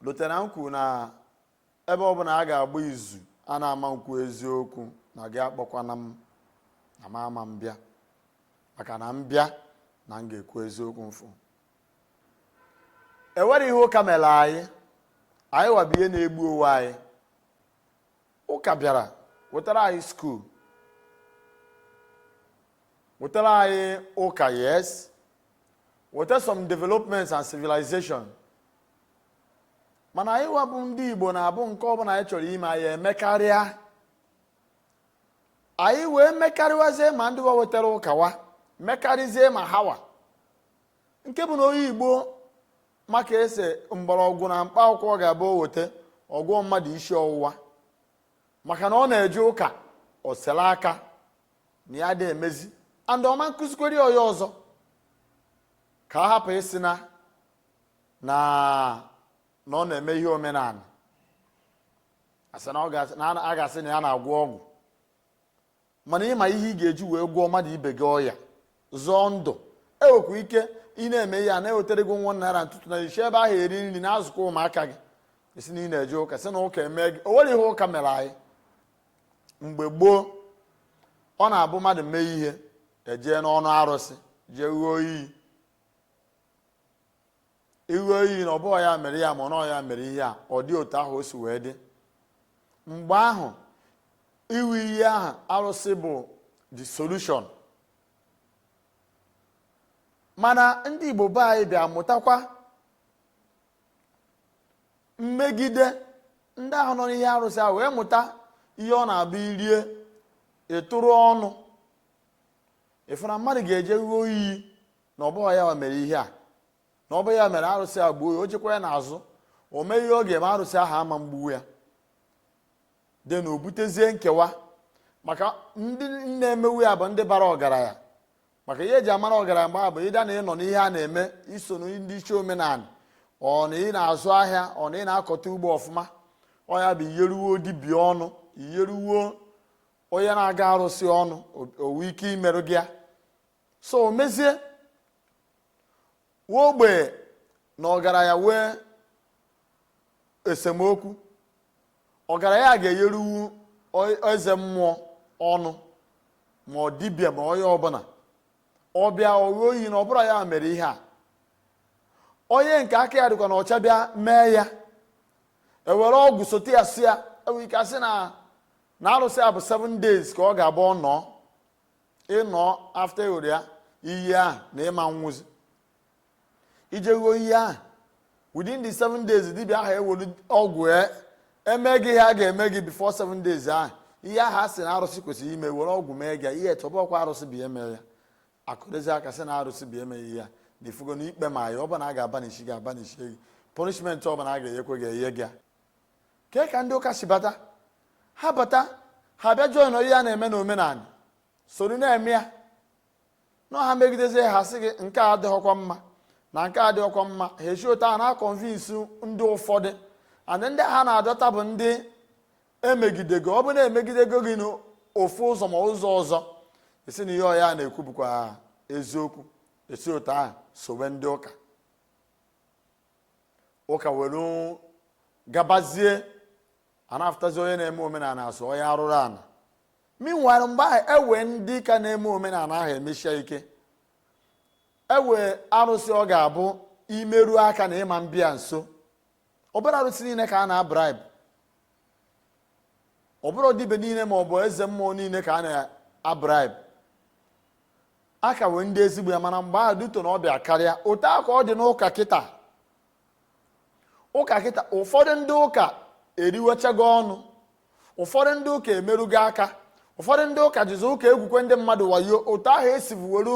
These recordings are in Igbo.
lotara m kwuo na ebe ọbụla a ga-agba izu a na ama m kwu eziokwu na gị akpọkwana m na m ama m bịa maka na m bịa na m ga-ekwu eziokwu m fụ e nwere ihe ụka mere anyị anyịwa bụ ihe na-egbu onwe anyị ụka bịara wetara anyị skuul wetara anyị ụka yes weta some developments and civilization mana anyịwa bụ ndị Igbo na-abụ nke ọbụla anyị chọrọ ime anyị emekarịa anyị wee mekarịwazie ma ndị wa wetara ụka wa mekarịzie ma hawa nke bụ na onye Igbo ma ka e si mgbọrọgwụ na mkpa akwụkwọ ga-abụ o weta ọ gwọọ mmadụ isi ọwụwa maka na ọ na-eje ụka o sela aka na ya adị emezi and ọ ma nkụzikwere onye ọzọ ka a hapụ ịsị na na na ọ na-eme ihe omenala asị na a ga-asị na ya na-agwọ ọgwụ mana ị ma ihe ị ga-eji wee gwọọ mmadụ ibe gị ọya zọọ ndụ e wekwa ike ị na-eme ihe a na-ewetara gị one naira ntụtụ na i si ebe ahụ eri nri na-azụkwa ụmụaka gị esi na ị na-eje ụka sị na ụka eme gị o nwere ihe ụka mere anyị mgbe gboo ọ na-abụ mmadụ mee ihe e jee n'ọnụ arụsị jee ghụọ iyi ị ghụọ iyi na ọ bụghọ ya mere ya ma ọ ya mere ihe a ọ dị otu ahụ o si wee dị mgbe ahụ ịghụ iyi ahụ arụsị bụ the solution mana ndị Igbo be anyị bịa mụtakwa mmegide ndị ahụ nọ n'ihe arụsị ahụ wee mụta ihe ọ na-abụ i rie ịtụrụ ọnụ ị fụ na mmadụ ga-eje ghụọ iyi na ọ bụghị ya mere ihe a na ọ bụ ya mere arụsị a gbuo ya o jekwa ya n'azụ o mee ihe ọ ga-eme arụsị ahụ ama mgbuwu ya then o butezie nkewa maka ndị na-emewu ya bụ ndị bara ọgaranya maka ihe e ji amara ọgaranya mgbe bụ either na ị nọ n'ihe a na-eme i so ndị isi omenala or na ị na-azụ ahịa or na ị na-akọta ugbo ọfụma ọ ya bụ i yeruwo dibịa ọnụ i yeruwo onye na-agọ arụsị ọnụ o we ike imerụ gị ya so o mezie wee ogbe na ọgaranya wee esemokwu ọgaranya ga-eyeruwu eze mmụọ ọnụ ma ọ dibịa ma onye ọbụla ọ bịa ọ ghụọ iyi na ọ bụrọ ya mere ihe a onye nke aka ya dịkwa na ọcha bịa mee ya e were ọgwụ sote ya si ya e nwere ike asị na na arụsị a bụ 7 days ka ọ ga-abụ ọ nọọ ị nọ after ị ghụrụ ya iyi ahụ na ị ma nwụzi i jee ṅụọ iyi ahụ within the seven days dibịa ahụ ewere ọgwụ e, eme gị ihe a ga-eme gị before seven days ahụ ihe ahụ a sị na arụsị kwesịrị ime were ọgwụ mee gị i che ọ bụkwa arụsị bụ eme ya a kụrụzie aka sị na arụsị bụ eme ihe ya na ifugo na ikpe ma ya ọ bụla a ga-aba n'isi gị aba n'isi gị punishment ọ bụla a ga-enyekwe gị enye gị kee ka ndị ụka si bata ha bata ha bịa join ihe a na-eme na omenala soro na-eme ya na ha megidezie ha sị gị nke a adịghịkwa mma na nke a adịghịkwa mma ha esi otu a na-aconvince ndị ụfọdụ and ndị ha na-adọta bụ ndị emegidego ọ bụ na emegidego gị n'ofu ụzọ ma ụzọ ọzọ ị sị na ihe onye a na-ekwu bụkwa eziokwu esi otu ahụ sowe ndị ụka ụka were gabazie a na-afụtazi onye na-eme omenala a sị onye arụrụ ana meanwhile mgbe ahụ ewee ndị ka na-eme omenala ahụ emeshie ike ewee arụsị ọ ga-abụ imeru aka na ị ma bịa nso ọ bụrọ arụsị niile ka a na-abribe ọ bụrọ dibe niile ma ọ bụ eze mmụọ niile ka a na-abribe a ka wee ndị ezigbo ya mana mgbe ahụ due to na ọ bịa karịa otu a ka ọ dị n'ụka kịta ụka kịta ụfọdụ ndị ụka eriwechago ọnụ ụfọdụ ndị ụka emerugo aka ụfọdụ ndị ụka jizi ụka egwukwe ndị mmadụ wayo otu ahụ e sibu were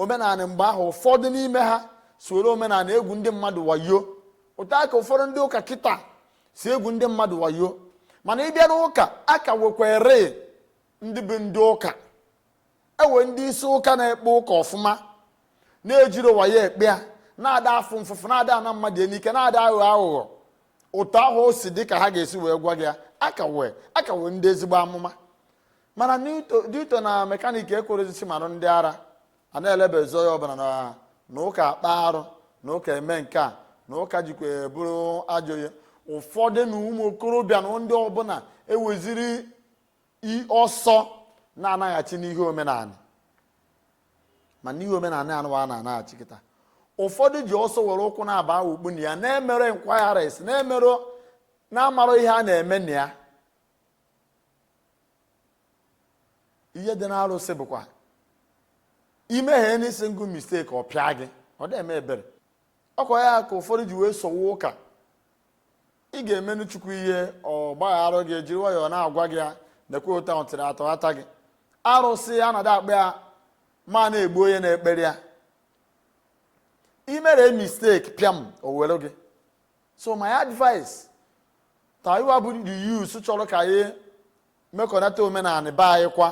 omenala mgbe ahụ ụfọdụ n'ime ha si were omenala egwu ndị mmadụ wayo otu a ka ụfọdụ ndị ụka kịta si egwu ndị mmadụ wayo mana ị bịa n'ụka a ka wekwere ndị bụ ndị ụka ewe ndị isi ụka na-ekpe ụka ọfụma na-ejirọ wayo ekpe ya na-ada afụ mfụfụ na-ada ana mmadụ ihe n'ike na-ada aghọ aghụghọ otu ahụ o si dị ka ha ga-esi wee gwa gị ya a ka wee a ka wee ndị ezigbo amụma mana due to na mekaniki ekwerọzi sị mara ndị ara a na-elebezi onye ọbụla na ụka akpa arụ na ụka eme nke a na ụka jikwa bụrụ ajọ ihe ụfọdụ na ụmụ okorobịa na ndị ọbụla eweziri i ọsọ na-anaghachi n'ihe omenala mana ihe omenala anụwa a na-anaghachi kịta ụfọdụ ji ọsọ were ụkwụ naabọ awụkpu na ya na-emere inquiries na-emere na-amara ihe a na-eme na ya ihe dị n'arụsị bụkwa i mehanị single mistake ọ pịa gị ọ da eme ebere ọkwa ya ka ụfọdụ ji wee sowe ụka ị ga-emenụ chukwu ihe ọ gbagharụ gị jiri nwayọọ na-agwa gị ya nekwe ụta ntịrị atọ ata gị arụsị a na-ada akpa ya ma na-egbu onye na-ekpere ya i mere mistake pịam o were gị so my advice to anyịwa bụ the youth chọrọ ka anyị mekọnata omenala be anyị kwa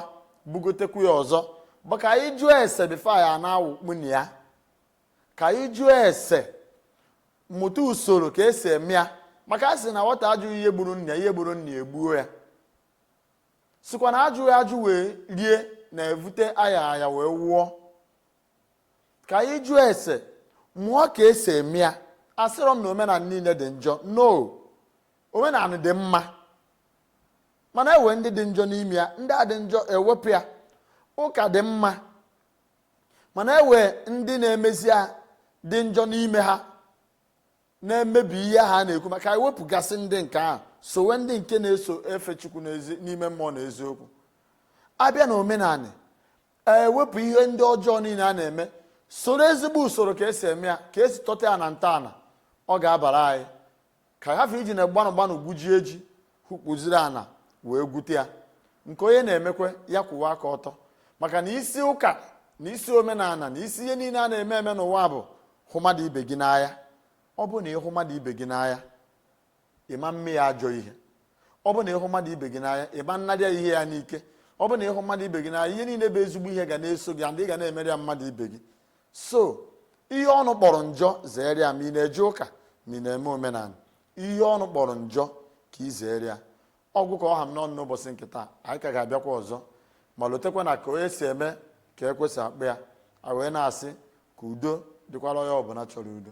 bugotekwu ya ọzọ bụ ka anyị jụọ ese before anyị na-awụkpu na ya ka anyị jụọ ese mụta usoro ka esi eme ya maka a sị na nwata ajụghị ihe gburu nna ya ihe gburu nna ya egbuo ya sịkwa na ajụghị ajụ wee rie na-evute aya aya wee nwụọ ka anyị jụọ ese mụọ ka esi eme ya asịrọ m na omenala niile dị njọ no omenala dị mma mana enwe ndị dị njọ n'ime ya ndị a dị njọ ewepụ ya ụka dị mma mana enwe ndị na-emezi ya dị njọ n'ime ha na-emebi ihe ha na-ekwu maka ewepụgasị ndị nke ahụ sowe ndị nke na-eso efe chukwu n'ime mmụọ na eziokwu abịa na omenala ewepụ ihe ndị ọjọọ niile a na-eme soro ezigbo usoro ka esi eme ya ka esi tọta ya na ntọala ọ ga-abara anyị ka ahafụ iji na gbanụ gbanụ gwujie ji hukpuziri ana wee gwute ya nke onye na-emekwa ya kwụwa aka ọtọ maka na isi ụka na isi omenala na isi ihe niile a na-eme eme n'ụwa bụ hụ mmadụ ibe gị n'anya ọ bụ na ịhụ mmadụ ibe gị n'anya ịma mme ya ajọ ihe ọ bụ na ịhụ mmadụ ibe gị n'anya ịma nnara ya ihe ya n'ike ọ bụ na ịhụ mmadụ ibe gị n'anya ihe niile bụ ezigbo ihe ga na-eso gị andị ị ga na-emere ya mmadụ ibe gị so ihe ọnụ kpọrọ njọ zere ya ma ị na-eje ụka ma ị na-eme omenala ihe ọnụ kpọrọ njọ ka ị zere ya ọ gwụ ka ọ ha m n'ọnụ n'ụbọchị nke taa anyị ka ga-abịakwa ọzọ ma lotekwa na ka onye si eme ka ekwe si akpọ ya a wee na-asị ka udo dịkwara onye ọbụla chọrọ udo